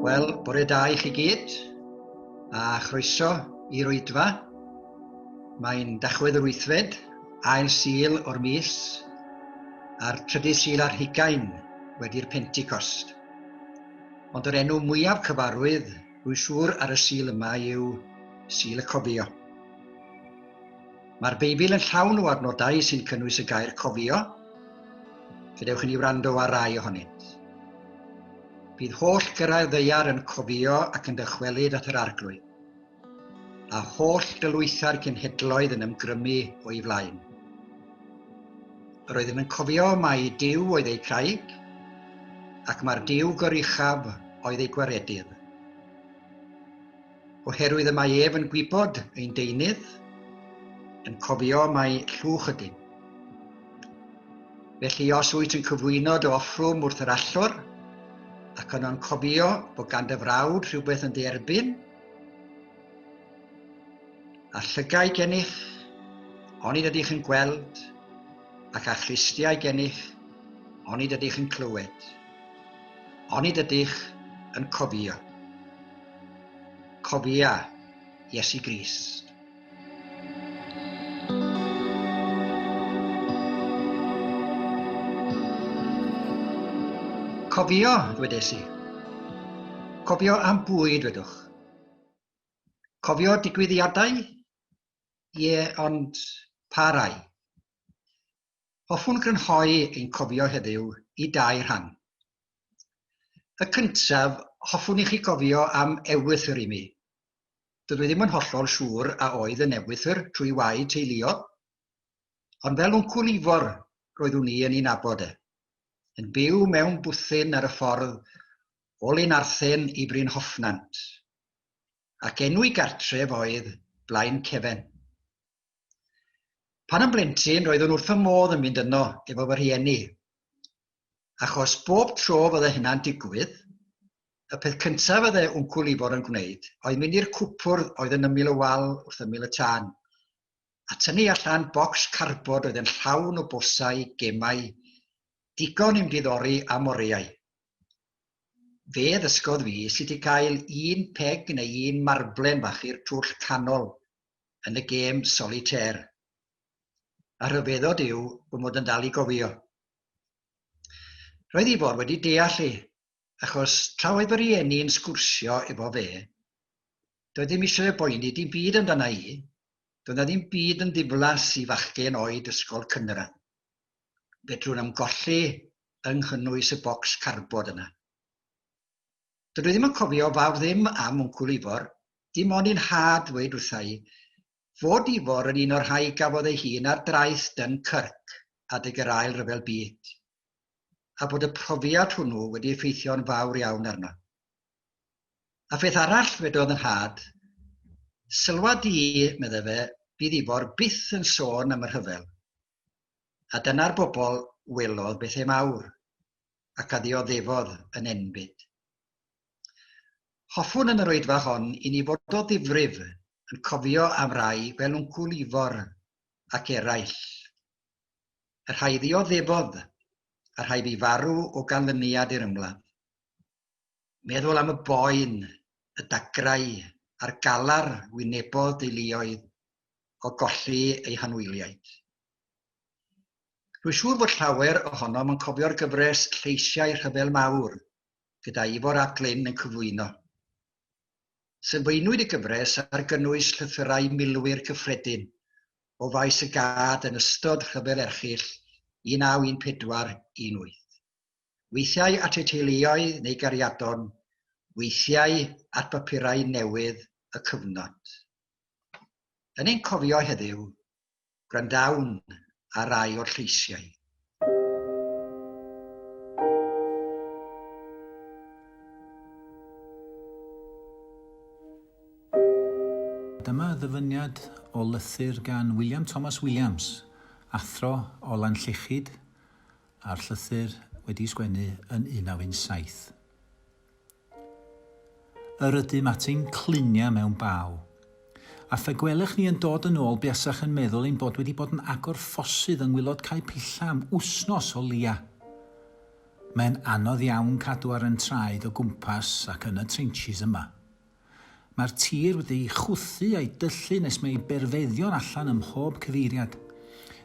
Wel, bore da i chi gyd, a chroeso i'r oedfa. Mae'n dachwedd yr wythfed, ail sil o'r mis, a'r trydydd sil ar hugain wedi'r Pentecost. Ond yr enw mwyaf cyfarwydd, rwy siŵr, ar y Sul yma yw Sul y Cofio. Mae'r Beibl yn llawn o adnodau sy'n cynnwys y gair cofio. Gadewch i ni wrando ar rai ohonynt. Bydd holl gyrraedd ddeiar yn cofio ac yn dychwelyd at yr arglwydd. a holl gylwythau'r cenhedloedd yn ymgrymu o'i flaen. Yr oeddem yn cofio mai Dyw oedd eu craig, ac mae'r Dyw goruchaf oedd eu gwaredydd. Oherwydd y mae ef yn gwybod ein deunydd, yn cofio mai llwch ydym. Felly os wyt yn cyflwyno dy offrwm wrth yr allor, ac yno'n cofio bod gan dy frawd rhywbeth yn dy erbyn, A llygaid gennych, onid ydych yn gweld, ac a chlustiau gennych, onid ydych yn clywed, onid ydych yn cofio. Cofia Iesu Grist. Cofio, dwedais i. Cofio am bwy, dwedwch. Cofio digwyddiadau? Ie, ond pa rai? Hoffwn grynhoi ein cofio heddiw i dau rhan. Y cyntaf, hoffwn i chi gofio am ewythr i mi. Dydw i ddim yn hollol siŵr a oedd yn ewythr trwy wau teuluol, ond fel wncwl Ifor roeddwn i yn ei nabod e, yn byw mewn bwthyn ar y ffordd o Lunarthen i Brynhoffnant, ac enw'i gartref oedd Blaencefen. Pan yn blentyn roeddwn wrth fy modd yn mynd yno efo fy rhieni, achos bob tro fydde hynna'n digwydd, y peth cyntaf fydde Wncwl Ifor yn gwneud oedd mynd i'r cwpwrdd oedd yn ymyl y wal wrth ymyl y tân, a tynnu allan bocs carbod oedd yn llawn o bwlsau, gemau, digon i'm diddori a moreuau. Fe ddysgodd fi sut i gael un peg neu un marblen fach i'r twll canol yn y gêm solitêr. A rhyfeddod yw fy mod yn dal i gofio. Roedd i fod wedi deall i, achos tra oedd fy rhieni yn sgwrsio efo fe, doedd ddim eisiau y boeni dim byd amdana i, doedd na ddim byd yn ddiflas i fachgen oed ysgol cynradd. Fedrwn am golli yng nghynnwys y bocs carbod yna. Dydw i ddim yn cofio fawr ddim am Wncwl Ifor, dim ond i'n nhad ddweud wrtha i fod Ifor yn un o'r rhai gafodd ei hun ar draeth Dunkirk adeg yr Ail Ryfel Byd, a bod y profiad hwnnw wedi effeithio'n fawr iawn arno. A pheth arall, dwedodd yn nhad, Sylwa di, meddai fe, fydd Ifor byth yn sôn am y rhyfel. A dyna'r bobl welodd bethau mawr. ac a ddioddefodd yn enbyd. Hoffwn yn yr oedfa hon i ni fod o ddifrif yn cofio am rai fel Wncwl Ifor ac eraill. Y rhai ddioddefodd, y rhai fi farw o ganlyniad i'r ymladd. Meddwl am y boen, y dagrau a'r galar wynebodd deuluoedd o golli eu hanwyliaid. Rwy'n siŵr fod llawer ohonom yn cofio'r gyfres Lleisiau Rhyfel Mawr, gyda Ifor ap Glyn yn cyflwyno. Sylfaenwyd y gyfres ar gynnwys llythyrau milwyr cyffredin o faes y gad yn ystod Rhyfel Erchyll 1914, 18. Weithiau at eu teuluoedd neu gariadon, weithiau at bapurau newydd y cyfnod. Yn ein cofio heddiw, Gwrandawn ar rai o'r lleisiau. Dyma ddyfyniad o lythyr gan William Thomas Williams, athro o Lanllechid, a'r llythyr wedi'i sgwennu yn 1917. Yr ydym at ein cluniau mewn baw. A phe gwelech ni yn dod yn ôl buasach yn meddwl ein bod wedi bod yn agor ffosydd yng ngwylod Cae Pilla am wsnos o leia. Mae'n anodd iawn cadw ar yn traed o gwmpas ac yn y trenches yma. Mae'r tir wedi ei chwythu a'i dyllu nes mae ei berfeddion allan ym mhob cyfeiriad.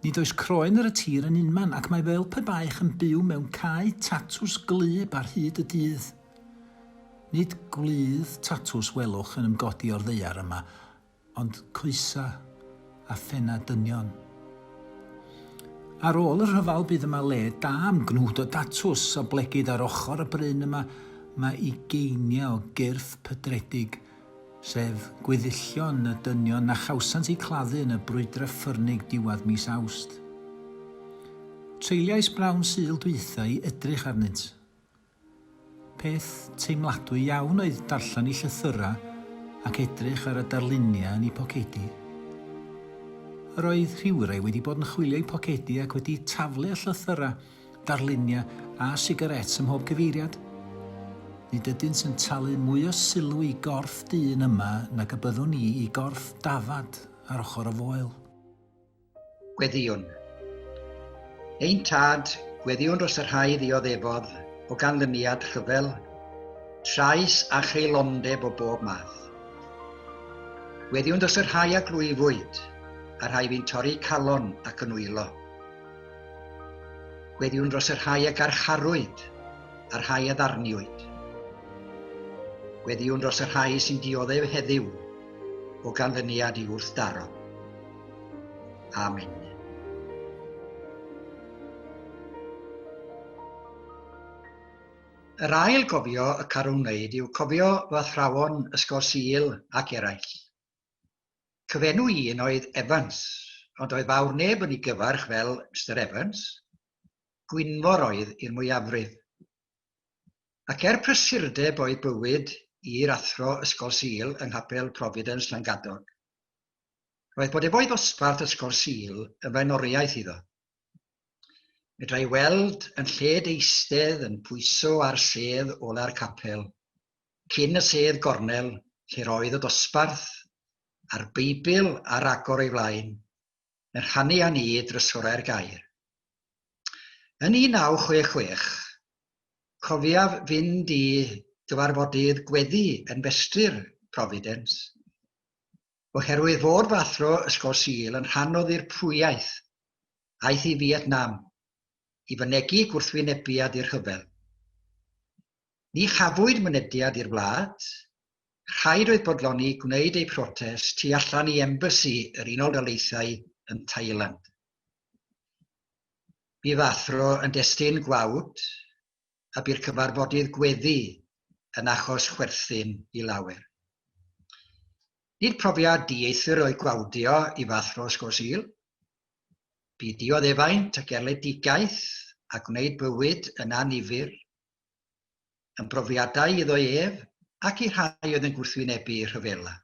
Nid oes croen ar y tir yn unman ac mae fel pe baech yn byw mewn cae tatws gwlyb ar hyd y dydd. Nid gwlydd tatws welwch yn ymgodi o'r ddaear yma, ond coesau. a phennau dynion. Ar ôl y rhyfel bydd yma le da am gnwd o datws a blegid ar ochr y bryn yma mae ugeiniau o gyrff pydredig, sef gweddillion y dynion na chawsant eu claddu yn y brwydrau ffyrnig diwedd mis Awst. Treuliais bnawn Sul dwytha i edrych arnynt. Peth teimladwy iawn oedd darllen ei llythyrau ac edrych ar y darluniau yn ei pocedi. Yr oedd rhywrai wedi bod yn chwilio ei phocedi ac wedi taflu y llythyrau, darluniau a sigarets ym mhob cyfeiriad. Nid ydynt yn talu mwy o sylw i gorff dyn yma nag y byddwn i i gorff dafad ar ochr y foel. Gweddïwn. Ein tad, gweddïwn dros y rhai ddioddefodd o ganlyniad rhyfel, trais a cheilondeb o bob math. Gweddïwn dros y rhai a glwyfwyd, a rhai fi'n torri calon ac yn wylo. Gweddïwn dros y rhai a garcharwyd, a rhai a ddarniwyd. Gweddïwn dros y rhai sy'n dioddef heddiw o ganlyniad i wrthdaro. Amen. Yr ail gofio y carwn wneud yw cofio fy athrawon Ysgol Sul ac eraill. Cyfenw un oedd Evans, ond oedd fawr neb yn ei gyfarch fel Mr Evans. Gwynfor oedd i'r mwyafrif. Ac er prysurdeb oedd bywyd i'r athro Ysgol Sul yng Nghapel Providence Llangadog. Roedd bod efo'i ddosbarth Ysgol Sul yn flaenoriaeth iddo. Medra'i weld yn lled eistedd yn pwyso ar sedd ola'r capel, cyn y sedd gornel lle roedd y dosbarth a'r Beibl ar agor ei flaen, yn rhannu â ni drysorau'r gair. Yn 1966, cofiaf fynd i gyfarfodydd gweddi yn Festri'r Providence, Oherwydd fod fy athro Ysgol Sul yn rhan o ddirprwyaeth, aeth i Fietnam i fynegi gwrthwynebiad i'r rhyfel. Ni chafwyd mynediad i'r wlad, rhaid oedd bodloni gwneud eu protest tu allan i embassy yr Unol Daleithiau yn Thailand. Bu fy athro yn destun gwawd y bu'r cyfarfodydd gweddi yn achos chwerthin i lawer. Nid profiad dieithr oedd gwawdio i fathro Ysgol Sul. Bu dioddefaint ac erledigaeth a gwneud bywyd yn annifyr yn brofiadau iddo ef ac i rhai oedd yn gwrthwynebu rhyfela.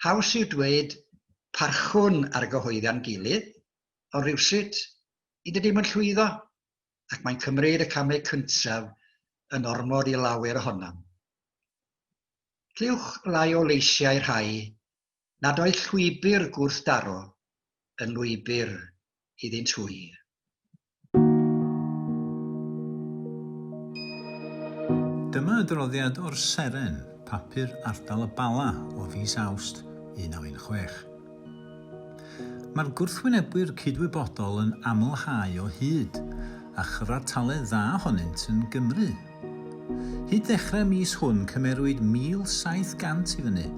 Haws yw dweud parchwn ar gyhoeddian gilydd, ond rhywsut, nid ydym yn llwyddo. ac mae'n cymryd y camau cyntaf yn ormod i lawer ohonom. Clywch lai o leisiau rhai nad oedd llwybr gwrthdaro yn lwybr iddynt hwy. Dyma adroddiad o'r Seren, papur ardal y Bala, o fis Awst 1916. Mae'r gwrthwynebwyr cydwybodol yn amlhau o hyd, a chyfartaledd dda ohonynt yn Gymru. Hyd ddechrau'r mis hwn cymerwyd 1,700 i fyny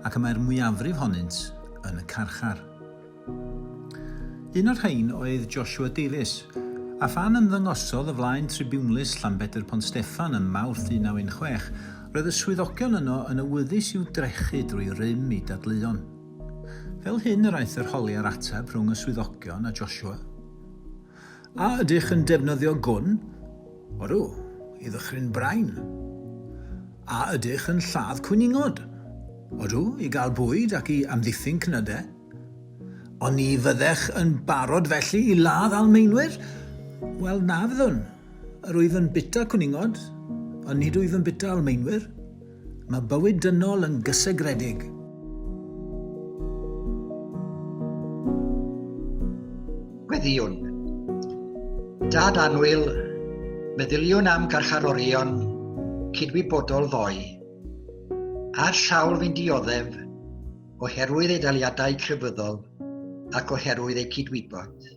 ac y mae'r mwyafrif honynt yn y carchar. Un o'r rhain oedd Joshua Davies, a phan ymddangosodd o flaen tribiwnlys Llanbedr Pont Steffan ym Mawrth 1916, roedd y swyddogion yno yn awyddus i'w drechu drwy rym i dadleuon. Fel hyn yr aeth yr holi a'r ateb rhwng y swyddogion a Joshua. A ydych yn defnyddio gwn? Odw, i ddychryn brain. A ydych yn lladd cwningod? Odw, i gael bwyd ac i amddiffyn cnydau. Ond ni fyddech yn barod felly i ladd Almaenwyr? Wel, na fyddwn. Yr wyf yn bita cwningod, ond nid wyf yn bita Almaenwyr. Mae bywyd dynol yn gysegredig. Gweddïwn. Dad annwyl, meddyliwn am garcharorion cydwybodol ddoe, a'r sawl fi'n dioddef oherwydd eu daliadau crefyddol ac oherwydd eu cydwybod.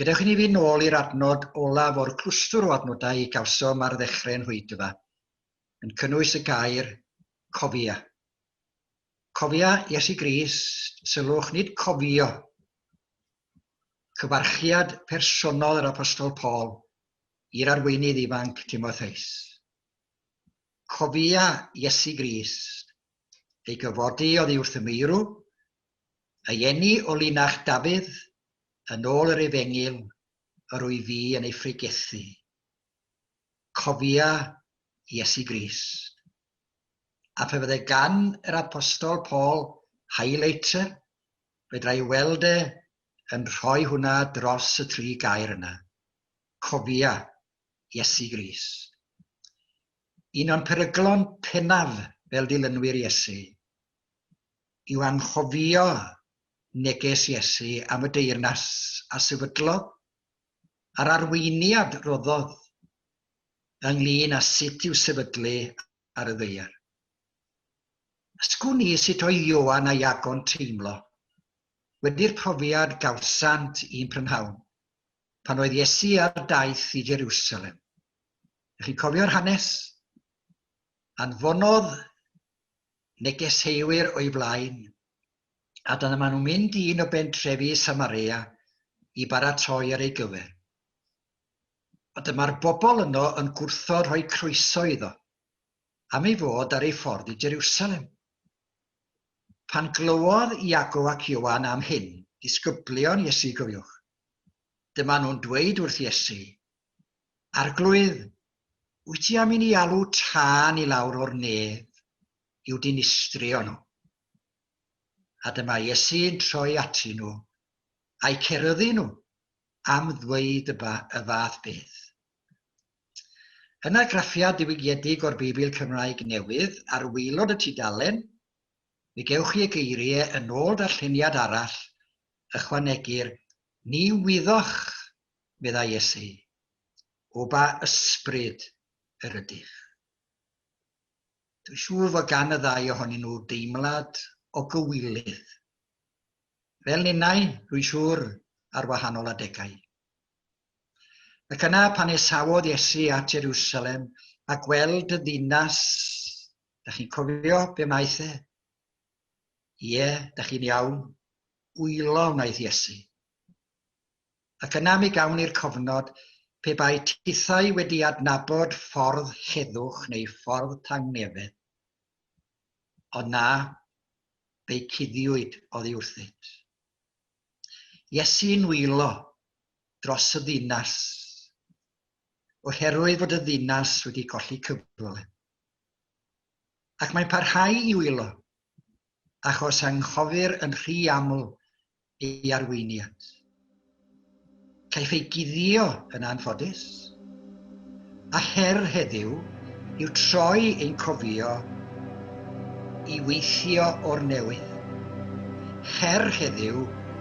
Gadewch i ni fynd nôl i'r adnod olaf o'r clwstwr o adnodau y gawsom ar ddechrau'n rhwydfa, yn cynnwys y gair cofia. Cofia Iesu Grist, sylwch, nid cofio. Cyfarchiad personol yr Apostol Paul i'r arweinydd ifanc Timotheus. Cofia Iesu Grist, ei gyfodi oddi wrth y meirw, A eni o linach Dafydd, yn ôl yr efengyl, yr wy fi yn ei phregethu. Cofia Iesu Grist. A phe fydde gan yr Apostol Paul highlighter, fedra i weld e yn rhoi hwnna dros y tri gair yna. Cofia Iesu Grist. Un o'n peryglon pennaf fel dilynwyr Iesu. yw anghofio neges Iesu am y deyrnas a sefydlodd, a'r arweiniad roddodd ynglŷn â sut i'w sefydlu ar y ddaear. Ysgwn ni sut oedd Ioan a Iago'n teimlo wedi'r profiad gawsant un prynhawn pan oedd Iesu ar daith i Jerusalem. Ych chi'n cofio'r hanes? Anfonodd negeseuwyr o'i flaen, a dyna maen nhw'n mynd i un o bentrefi Samaria i baratoi ar ei gyfer. A dyma'r bobl yno yn gwrthod rhoi croeso iddo, am ei fod ar ei ffordd i Jerusalem. Pan glywodd Iago ac Ioan am hyn, disgyblion Iesu gofiwch, dyma nhw'n dweud wrth Iesu, Arglwydd, wyt ti am i ni alw tân i lawr o'r nef i'w dinistrio nhw? A dyma Iesu'n troi atyn nhw, a'i ceryddu nhw, am ddweud y, ba, y fath beth. Yn argraffiad diwygiedig o'r Beibl Cymraeg Newydd ar waelod y tudalen, mi gewch chi y geiriau yn ôl darlleniad arall ychwanegir, Ni wyddoch meddai Iesu, o ba ysbryd yr ydych? Dwi'n siŵr fod gan y ddau ohonyn nhw deimlad o gywilydd. Fel ninnau, rwy'n siŵr, ar wahanol adegau. Ac yna pan esawodd Iesu at Jerusalem a gweld y ddinas, da chi'n cofio be wnaeth e? Ie, da chi'n iawn, wylo wnaeth Iesu. ac yna mi gawn ni'r cofnod pe bai tithau wedi adnabod ffordd heddwch neu ffordd tangnefedd. Ond na, fe'i cuddiwyd oddi wrthynt. Iesu'n wylo dros y ddinas, oherwydd fod y ddinas wedi colli cyfle. Ac mae'n parhau i wylo achos anghofir yn rhy aml ei arweiniad. Caiff ei guddio yn anffodus, a her heddiw yw troi ein cofio i weithio o'r newydd. Her heddiw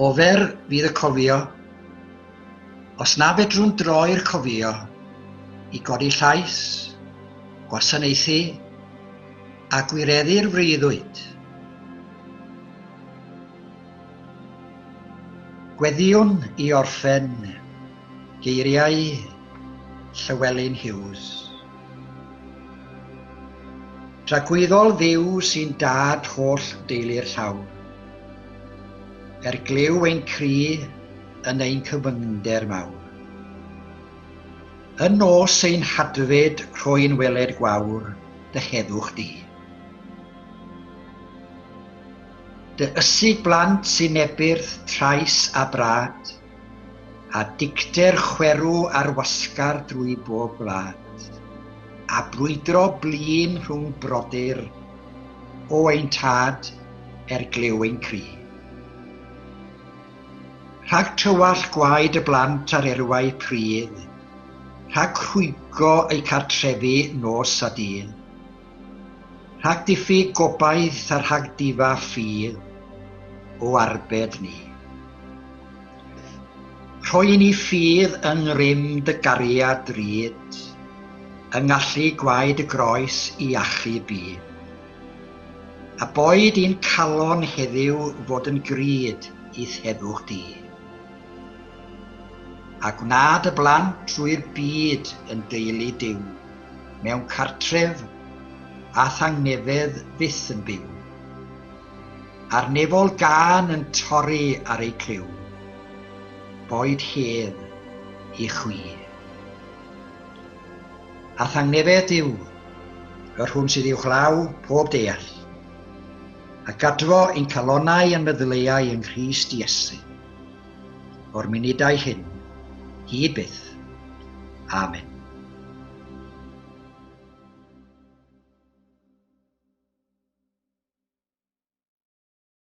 O fer fydd y cofio, os na fedrwn droi'r cofio i godi llais, gwasanaethu a gwireddu'r freuddwyd. Gweddiwn i orffen geiriau Llywelyn Hughes. Tragwyddol Dduw sy'n dad holl deulu'r llaw. Er glyw ein cri yn ein cyfyngder mawr. Yn nos ein hadfyd rhoi'n weled gwawr dy heddwch di. Dy ysig blant sy'n nebyrth trais a brad, a dicter chwerw ar wasgar drwy bob gwlad, a brwydro blin rhwng brodyr, o ein tad er glyw ein cri. Rhag tywallt gwaed y blant ar erwau pridd, rhag rhwygo eu cartrefi nos a dydd, Rhag diffyg gobaith a rhag difa ffydd o arbed ni. Rhoi i ni ffydd yng ngrym dy gariad drud, yng ngallu gwaed y groes i achu byd. A boed i'n calon heddiw fod yn grud i'th heddwch di. A gwna dy blant drwy'r byd yn deulu Duw. mewn cartref a thangnefedd fyth yn byw. A'r nefol gân yn torri ar ei criw, boed hedd i chwi. A thangnefedd yw y rhwn sydd uwchlaw pob deall, a gadfo ein calonau yn meddyleuau yng Nghrist Iesu. o'r munudau hyn, hyd byth. Amen.